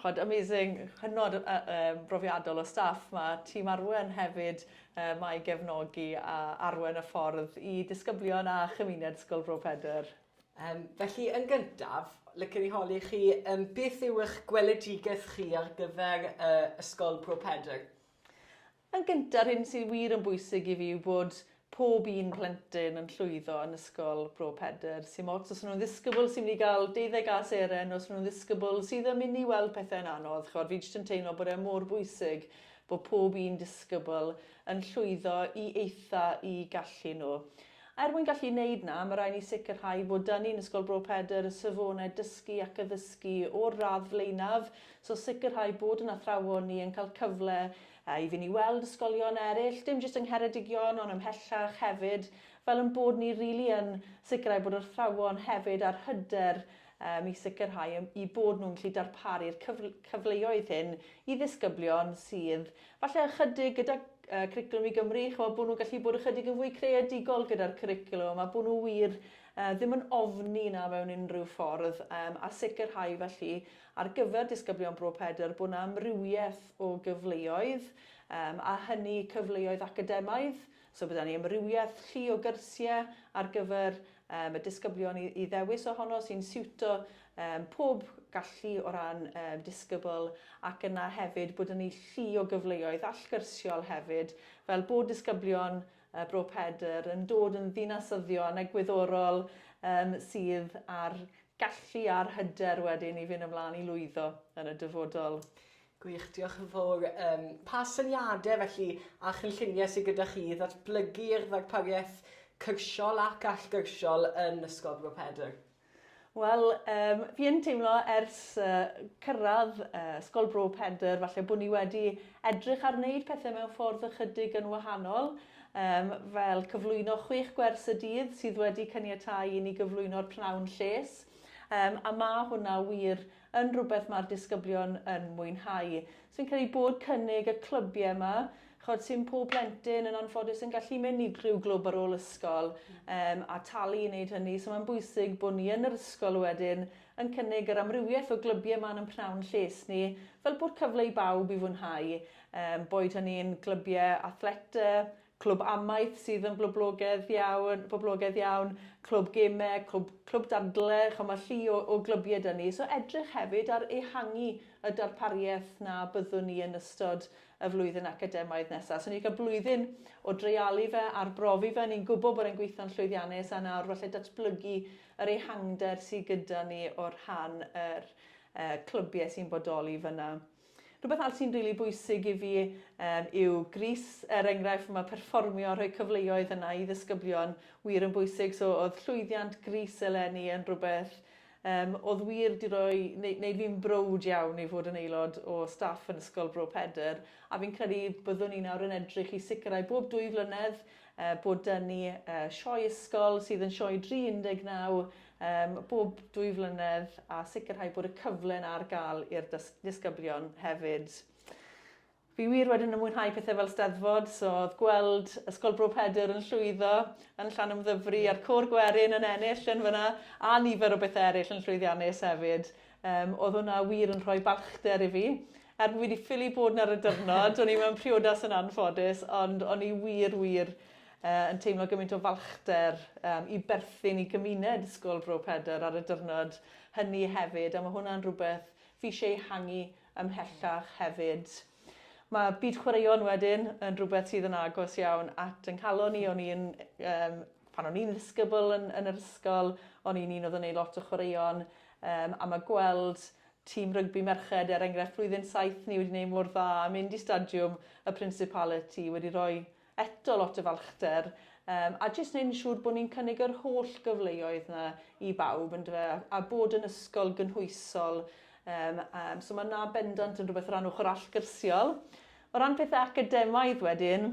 ch'od amazing, hynod o yym brofiadol o staff, ma' tîm Arwen hefyd yy 'ma i gefnogi a arwen y ffordd i disgyblion a chymuned Ysgol Bro Pedr. Yym felly yn gyntaf, licen i holi chi yym beth yw eich gweledigaeth chi ar gyfer yy Ysgol Bro Pedr? Yn gyntaf, yr hyn sydd wir yn bwysig i fi yw bod pob un plentyn yn llwyddo yn Ysgol Bro Pedr. Sim ots os y'n nhw'n ddisgybl sy'n mynd i gael deuddeg A seren neu os y'n nhw'n ddisgybl sydd yn mynd i weld pethau'n anodd, chimod, fi jyst yn teimlo bod e mor bwysig bod pob un disgybl yn llwyddo i eitha' u gallu nhw. A er mwyn gallu wneud 'na, ma' raid ni sicrhau bod 'da ni yn Ysgol Bro Pedr y safonau dysgu ac addysgu o'r radd flaenaf, so sicrhau bod 'yn athrawon ni yn cael cyfle I fynd i weld ysgolion eraill, dim jyst yng Ngheredigion ond ymhellach hefyd, fel ein bod ni rili yn sicrhau bod yr athrawon hefyd a'r hyder um, i sicrhau i bod nhw'n gallu darparu'r cyfle cyfleoedd hyn i ddisgyblion sydd falle ychydig gyda uh, Cwricwlwm i Gymru, chwa, bod nhw'n gallu bod ychydig yn fwy creadigol gyda'r cwricwlwm a bod nhw wir uh, ddim yn ofni na mewn unrhyw ffordd um, a sicrhau felly Ar gyfer disgyblion Bro Pedr bod 'na amrywiaeth o gyfleoedd, yym a hynny cyfleoedd academaidd, so bod 'da ni amrywiaeth llu o gyrsie ar gyfer yym y disgyblion i i ddewis ohono sy'n siwto yym pob gallu o ran yym disgybl ac yna hefyd bod 'da ni llu o gyfleoedd allgyrsiol hefyd fel bod disgyblion y Bro Pedr, yn dod yn ddinasyddion egwyddorol um, sydd ar gallu a'r hyder wedyn i fynd ymlaen i lwyddo yn y dyfodol. Gwych, diolch yn fawr. Um, pa syniadau felly a chynlluniau sydd gyda chi i ddatblygu'r ddarpariaeth cyrsiol ac allgyrsiol yn Ysgol Bro Pedr? Wel, um, fi yn teimlo ers uh, cyrraedd uh, Ysgol Bro Pedr, falle bod ni wedi edrych ar wneud pethau mewn ffordd ychydig yn wahanol, um, fel cyflwyno chwech gwers y dydd sydd wedi cyniatau i ni gyflwyno'r pnawn lles. Um, a mae hwnna wir yn rhywbeth mae'r disgyblion yn mwynhau. So fi'n credu bod cynnig y clybiau yma, chod sy'n pob plentyn yn anffodus yn gallu mynd i rhyw glwb ar ôl ysgol um, a talu i wneud hynny. So mae'n bwysig bod ni yn yr ysgol wedyn yn cynnig yr amrywiaeth o glybiau yma yn pnawn lles ni, fel bod cyfle i bawb i fwynhau, um, boed hynny'n glybiau athleta, Clwb amaeth sydd yn bloblogedd iawn, boblogedd iawn, clwb geme, clwb, clwb dadle, ch'o' ma' llu o o glybiau 'da ni. So edrych hefyd ar ehangu y darpariaeth 'na byddwn ni yn ystod y flwyddyn academaidd nesa. So ni 'di ca'l blwyddyn o dreialu fe, arbrofi fe, ni'n gwbo bod e'n gweithio'n llwyddiannus a nawr falle datblygu yr ehangder sy gyda ni o rhan yr yy clybie sy'n bodoli fyn 'na. Rhywbeth arall sy'n rili bwysig i fi yym yw Grease er enghraifft ma' perfformio a rhoi cyfleoedd yna i ddisgyblion wir yn bwysig so o'dd llwyddiant Grease eleni yn rhywbeth yym o'dd wir 'di roi neu- neud fi'n browd iawn i fod yn aelod o staff yn Ysgol Bro Pedr a fi'n credu byddwn ni nawr yn edrych i sicrhau bob dwy flynedd yy bod 'da ni yy sioe ysgol sydd yn sioe dri un deg naw Ym bob dwy flynedd a sicrhau bod y cyfle yna ar gael i'r disgyblion hefyd. Fi wir wedyn yn mwynhau pethau fel steddfod, so oedd gweld Ysgol Bro Pedr yn llwyddo yn Llanymddyfri a'r Côr Gwerin yn ennill yn fyna, a nifer o bethau eraill yn llwyddiannus hefyd. Um, oedd hwnna wir yn rhoi balchder i fi. Er bod fi wedi ffili bod yna ar y dyrnod, o'n i mewn priodas yn anffodus, ond o'n i wir, wir yn teimlo gymaint o falchder um, i berthyn i gymuned Ysgol Bro Pedr ar y dyrnod hynny hefyd, a mae hwnna'n rhywbeth fi eisiau ei hangu ymhellach hefyd. Mae byd chwaraeon wedyn yn rhywbeth sydd yn agos iawn at yng nghalon i. O'n i'n, um, pan o'n i'n ddisgybl yn, yn yr ysgol, o'n i'n un oedd yn ei lot o chwaraeon, um, a mae gweld tîm rygbi merched, er enghraifft, flwyddyn saith ni wedi gwneud mor dda, mynd i stadiwm y Principality, wedi rhoi Eto lot o falchder yym a jyst neud yn siŵr bo' ni'n cynnig yr holl gyfleoedd 'na i bawb yndyfe a a bod yn ysgol gynhwysol yym yym so ma' 'na bendant yn rwbeth o ran ochor allgyrsiol. O ran pethe academaidd wedyn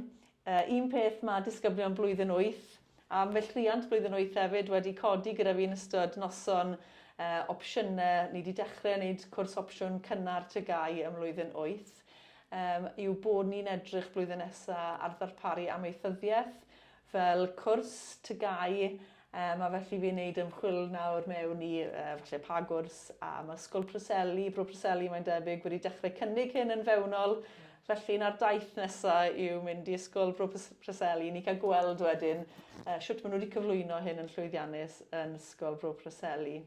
yy un peth ma' disgyblion blwyddyn wyth Am fy cleiant blwyddyn wyth hefyd wedi codi gyda fi yn ystod noson yy opsiyne, ni 'di dechre neud cwrs opsiwn cynnar TGAU ym mlwyddyn wyth yym yw bod ni'n edrych blwyddyn nesa ar ddarparu amaethyddiaeth fel cwrs TGAU yym a felly fi'n neud ymchwil nawr mewn i yy falle pa gwrs am Ysgol Preseli, Bro Preseli mae'n debyg wedi dechre cynnig hyn yn fewnol Felly, na'r daith nesaf yw mynd i Ysgol Bro Preseli i ni cael gweld wedyn uh, sut maen nhw wedi cyflwyno hyn yn llwyddiannus yn Ysgol Bro Preseli.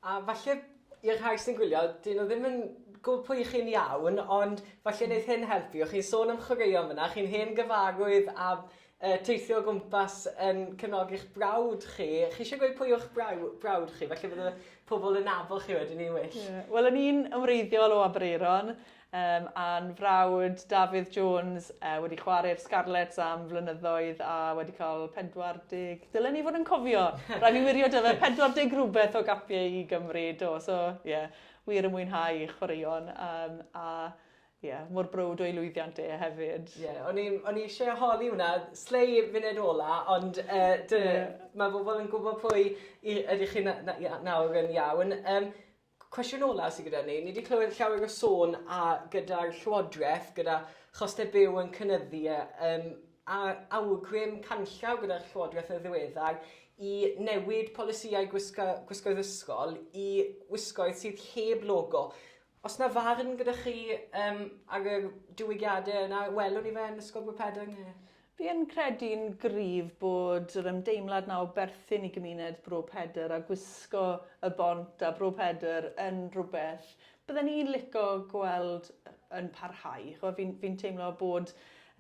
A falle i'r rhai sy'n gwylio, dyn nhw ddim yn gwybod pwy chi'n iawn, ond falle wneud hyn helpu. O'ch chi'n sôn am chwaraeon fyna, chi'n hen gyfarwydd a uh, teithio o gwmpas yn cefnogi'ch brawd chi. Chi eisiau gweud pwy o'ch braw, brawd chi? Falle bod y pobl yn nabod chi wedyn ni'n well. Yeah. Wel, o'n i'n ymwreiddiol o Aberaeron, Yym, a'n frawd Dafydd Jones yy wedi chware i'r Scarlets am flynyddoedd a wedi cael 40... Dylen i fod yn cofio! Rhaid fi wirio 'da fe, 40 rhywbeth o gapiau i Gymru, do, so ie, wir yn mwynhau chwaraeon yym a ie, mor browd o'i lwyddiant e hefyd. Ie, o'n i o'n i isie holi hwnna, slei funud ola, ond yy dyna... Ie. ...ma' bobl yn gwbo pwy i ydych chi na- na- ia nawr yn iawn. Yym. Cwestiwn olaf sydd gyda ni, ni wedi clywed llawer o sôn a gyda'r Llywodraeth, gyda chostau byw yn cynyddu a, um, a awgrym canllaw gyda'r Llywodraeth yn ddiweddar i newid polisïau gwisgo, gwisgoedd ysgol i wisgoedd sydd heb logo. Os na farn gyda chi um, ar y diwygiadau yna, welwn ni fe yn Ysgol Bro Pedr? Fi yn credu'n gryf bod yr ymdeimlad 'na o berthyn i gymuned Bro Pedr a gwisgo y bont a Bro Pedr yn rhywbeth bydden ni'n lico gweld yn parhau. Ch'mo' fi'n fi'n teimlo bod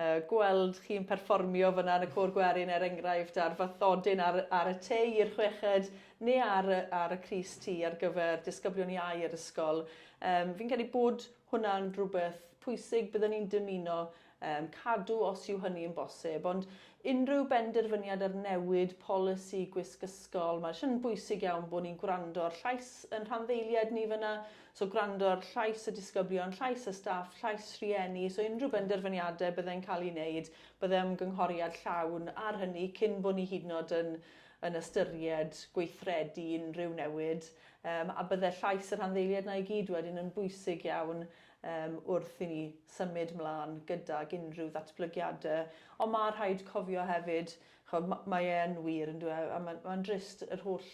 yy gweld chi'n perfformio fyna yn y Côr Gwerin er enghraifft a'r fathodyn ar ar y tei i'r chweched neu ar y ar y crys T ar gyfer disgyblion iau yr ysgol yym fi'n credu bod hwnna'n rhywbeth pwysig bydden ni'n dymuno yn cadw os yw hynny yn bosib, ond unrhyw benderfyniad ar newid polisi gwisg ysgol, mae jyst yn bwysig iawn bod ni'n gwrando ar llais yn rhanddeiliaid ni fyna, so gwrando ar llais y disgyblion, llais y staff, llais rhieni, so unrhyw benderfyniadau byddai'n cael ei wneud, byddai ymgynghoriad llawn ar hynny cyn bod ni hyd yn oed yn yn ystyried gweithredu unrhyw newid, um, a byddai llais y rhanddeiliaid na i gyd wedyn yn bwysig iawn um, wrth i ni symud mlaen gydag unrhyw ddatblygiadau. Ond mae rhaid cofio hefyd, chod, mae e'n wir yn dweud, e, a mae'n ma drist yr holl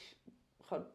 chod,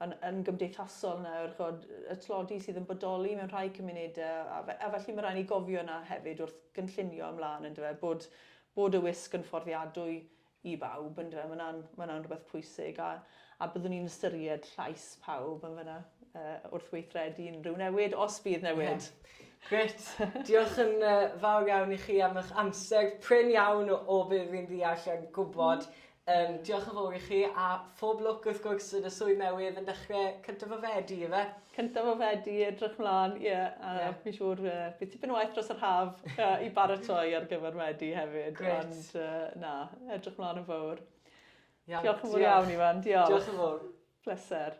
yn, yn gymdeithasol nawr, chod, y tlodi sydd yn bodoli mewn rhai cymunedau, a, fe, a felly mae rhaid ni gofio yna hefyd wrth gynllunio ymlaen yn dweud bod, bod y wisg yn fforddiadwy i bawb yndyfe? Mae hwnna'n, mae hwnna'n rhywbeth pwysig a, a byddwn ni'n ystyried llais pawb yn fyna uh, wrth weithredu unrhyw newid, os bydd newid. Yeah. Gret. Diolch yn uh, fawr iawn i chi am eich amser prin iawn o, o be fi'n ddeall yn gwybod. Mm. Um, diolch yn fawr i chi a phob lwc wrth gwrs yn y swydd newydd yn dechrau cyntaf o fedi, efe? cyntaf o Fedi edrych mlan ie a yeah. fi'n siŵr uh, bydd tipyn o waith dros yr haf uh, i baratoi ar gyfer Medi hefyd Great. ond uh, na edrych mlan yn fawr Iawn, diolch yn fawr iawn Ifan diolch diolch yn fawr pleser